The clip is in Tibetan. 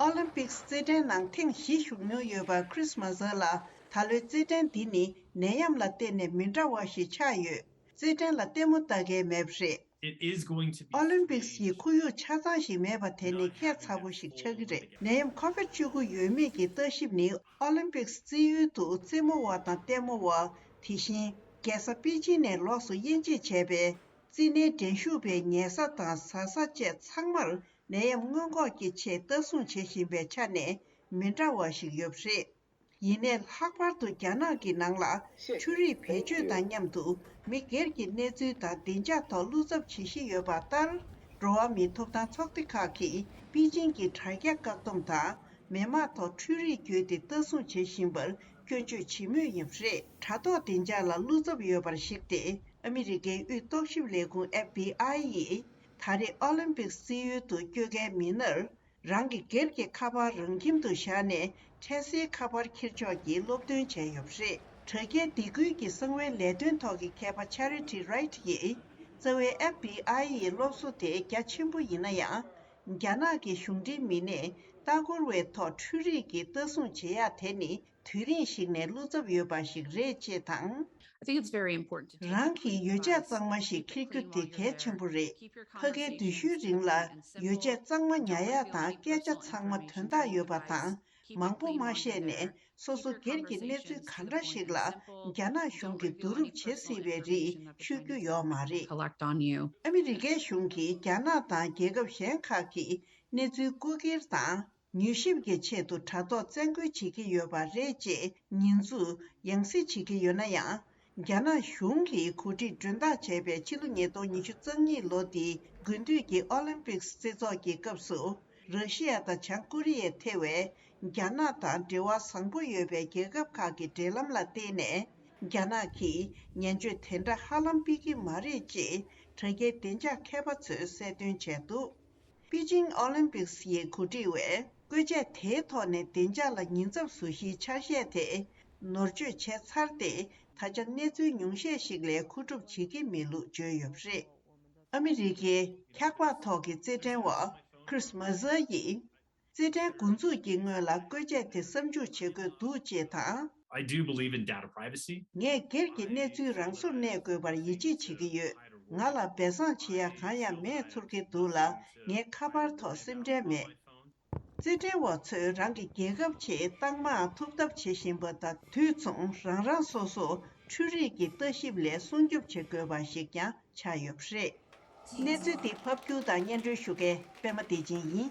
ཨོ་ལིམ་པིཀ་རྩེད་འགྲན་ནང་ཐེངས་བཞི་ཞུགས་མྱོང་ཡོད་པ Chris Mazur ལ་ད་ལོའི་རྩེད་འགྲན་འདི་ནི་ནད་ཡམས་ལ་བརྟེན་ནས་མི་འདྲ་བ་ཞིག་ཆགས་ཡོད། རྩེད་འགྲན་ལ་ལྟད་མོ་ལྟ་མཁན་མེད་པ་རེད། ཨོ་ལིམ་པིཀ་གི་ཁོར་ཡུག་ཆ་ཚང་ཞིག་མེད་པ་དེ་ནི་ཁྱད་མཚར་པོ་ཞིག་ཆགས་ཀྱི་རེད། ནད་ཡམས Covid བཅུ་དགུ་ཡོད་མེད་ཀྱི་ལྟ་ཞིབ་ནི་ཨོ་ལིམ་པིཀ་རྩེད་ཡུལ་དུ་རྩེད་མོ་བ་དང་ལྟད་མོ་བ། དེ་བཞིན་རྒྱལ་ས་པེ་ཅིན་ནས་ལོགས་སུ་དབྱེ་འབྱེད་བྱས་པའི་རྩེད་འགྲན་ཞུགས་པའི་ཉལ་ས་དང་ཟ་ས་བཅས་ཚང་མར་ནད་ཡམས་སྔོན་འགོག་གི་ཆེད་ལྟ་སྲུང་བྱེད་བཞིན་པའི་ཆ་ནས་མི་འདྲ་བ་ཞིག་ཡོད་པ་རེད། ཡིན་ནས་ལྷག་པར་དུ་རྒྱ་ནག་གི་ནང་ལ་ཆུ་རིགས་བེད་སྤྱོད་དང་མཉམ་དུ་མི་སྒེར་གྱི་གནས་ཚུལ་དང་བདེ་འཇགས་ཐོག་བསླུ་ཚབ་བྱེད་བཞིན་ཡོད་པ་ལྟར། འགྲོ་བ་མིའི་ཐོབ་ཐང་ཚོགས་སྡེ་ཁག་གིས་པེ་ཅིན་གྱི་དྲ་རྒྱ་བཀག་སྡོམ་དང་མེ་དམག་ཐོག་འཕྲུལ་རིགས་བརྒྱུད་དེ་ལྟ་སྲུང་བྱེད་བཞིན་པར་སྐྱོན་བརྗོད་བྱེད་མུས་ཡིན་པ་རེད། དྲ་ཐོག་བདེ་འཇགས་ལ་བསླུ་ཚབ་ཡོད་པར་གཞིགས་ཏེ་ཨ་མི་རི་ཀའི་དབུས་རྟོག་ཞིབ་ལས་ཁུངས FBI ཡིས་ད་རེས་ཨོ་ལིམ་པིག་བསིལ་ཡུལ་དུ་བསྐྱོད་མཁན་མི་སྣར་རང་གི་སྒེར་གྱི་ཁ་པར་རང་ཁྱིམ་དུ་བཞག་ནས་འཕྲལ་སེལ་ཁ་པར་འཁྱེར་ཕྱོགས་ཀྱི་སློབ་སྟོན་བྱས་ཡོད་པ་རེད། དྲ་རྒྱའི་སྡེ་ཁུལ་གྱི་གསང་བའི་ལས་དོན་ཐོག་གི་མཁས་པ Charity Wright ཡིས་རྩ་བའི FBI ཡི་སློབ་གསོ་དེ་རྒྱ་ཆེན་པོ་ཡིན་ན་ཡང། རྒྱ་ནག་གི་གཞུང་འབྲེལ་མི་སྣས་ལྟ་སྐོར་བའི་ཐོག་འཕྲུལ་རིག་གི་ལྟ་སྲུང་བྱེད་ཡག་དེ་ནི་དུས་རིང་ཞིག་ནས་བླུ་ཚབ་ཡོད་པ་ཞིག་རེད་ཅེས་དང། རང་གི་ཡོ་བྱད་གཙང་མ་ཞིག་འཁྱེར་རྒྱུ་དེ་གལ་ཆེན་པོ་རེད། ཕ་གའི་བདུད་ཤུལ་རིང་ལ་ཡོ་བྱད་གཙང་མ་ཉག་ཡག་དང་སྐད་ཆ་ཚང་མ་དོན་དག་ཡོད་པ་དང་མང་པོ་མ་བཤད་ནས་སོ་སོ་སྒེར་གྱི་གནས་ཚུལ་ག་འདྲ་ཞིག་ལ་རྒྱ་ནག་གཞུང་གིས་བསྡུ་རུབ་བྱེད་སྲིད་པའི་རིགས་ཤོད་རྒྱུ་ཡོག་མ་རེད། ཨ་མི་རི་ཀའི་གཞུང་གིས་རྒྱ་ནག་དང་རྒྱལ་ཁབ་གཞན་ཁག་གི་གནས་ཚུལ་རྐུ་འཁྱེར་དང། མྱུལ་ཞིབ་ཀྱི་ཆེད་དུ་དྲ་ཐོག་བཙན་བཀོལ་བྱེད་ཀྱི་ཡོད་པ་རེད་ཅེས་ཉེས་འཛུགས་ཡང་སྲིད་བྱེད་ཀྱི་ཡོད་ན་ཡང། རྒྱ་ནག་གཞུང་གིས་གོ་སྒྲིག་མགྲོན་བདག་བྱས་པའི་ཕྱི་ལོ་ཉིས་སྟོང་ཉི་ཤུ་རྩ་གཉིས་ལོ་འདིའི་དགུན་དུས་ཀྱི་ཨོ་ལིམ་པིཀ་སི་རྩེ་ཚོགས་ཀྱི་སྐབས་སུ་ར་ཤི་ཡ་དང་བྱང་ཀོ་རི་ཡའི་ཐེ་བའི་རྒྱ་ནག་དང་འབྲེལ་བ་བཟང་པོ་ཡོད་པའི་རྒྱལ་ཁབ་ཁག་གི་འབྲེལ་ལམ་ལ་བརྟེན་ནས་རྒྱ་ནག་གིས་ཉན་བརྗོད་དེ་འདྲ་ཧ་ལམ་སྤེལ་གྱི་མ་རེད་ཅེས་དྲ་རྒྱའི་བདེ་འཇགས་མཁས་པ་ཚོས་གསལ་སྟོན་བྱས་འདུག། པེ་ཅིང་ཨོ་ལིམ་པིག་སི་ཡི་གོ་སྒྲིག་བས་བཀོད་ཆས་དེའི་ཐོག་ནས་བདེ་འཇགས་ལ་ཉེན་ཚབས་བཟོ་གཞིའི་ཆ་ཤས་དེ་ནོར་བཅོས་བྱས་ཚར་ཏེ་ད་ཆ་གནས་ཚུལ་ཉུང་ཤས་ཤིག་ལས་མཁོ་སྒྲུབ་བྱེད་ཀྱི་མེད་ལུགས་བརྗོད་ཡོད་པ་རེད། ཨ་མི་རི་ཀའི་འཁྱགས་འབག་ཐོག་གི་རྩེད་འགྲན་བ Chris Mercer ཡིས། རྩེ་གྲའི་མགོ་འཛུགས་ཀྱི་སྔོན་ལ་བཀོལ་ཆས་དེ་བསམ་འཇུག་བྱེད་དགོས་འདུག་ཅེས་དང། I do believe in data privacy. ངས་སྒེར་གྱི་གནས་ཚུལ་རང་སོར་གནས་དགོས་པར་ཡིད་ཆེས་བྱེད་ཀྱི་ཡོད། ང་ལ་སྦས་གསང་བྱེད་ཡ་གང་ཡང་མེད་ཚོར་གྱི་འདུག་ལ་ངའི་ཁ་པར་ཐོག་སེམས་ཁྲལ་མེད། རྩེ་གྲའི་བ་ཚོས་རང་གི་རྒྱལ་ཁབ་ཆེད་རྟགས་མའང་ཐོབ་ཐབས་བྱེད་བཞིན་པ་དང་དུས་མཚུངས་རང་རང་སོ་སོ་འཕྲུལ་རིག་གི་ལྟ་ཞིབ་ལས་སྲུང་སྐྱོབ་བྱེད་དགོས་པ་ཞིག་ཀྱང་ཆགས་ཡོད་པ་རེད། གནས་ཚུལ་འདི་ཕབ་སྒྱུར་དང་སྙན་སྒྲོན་ཞུ་མཁན་པད་མ་བདེ་ཆེན་ཡིན།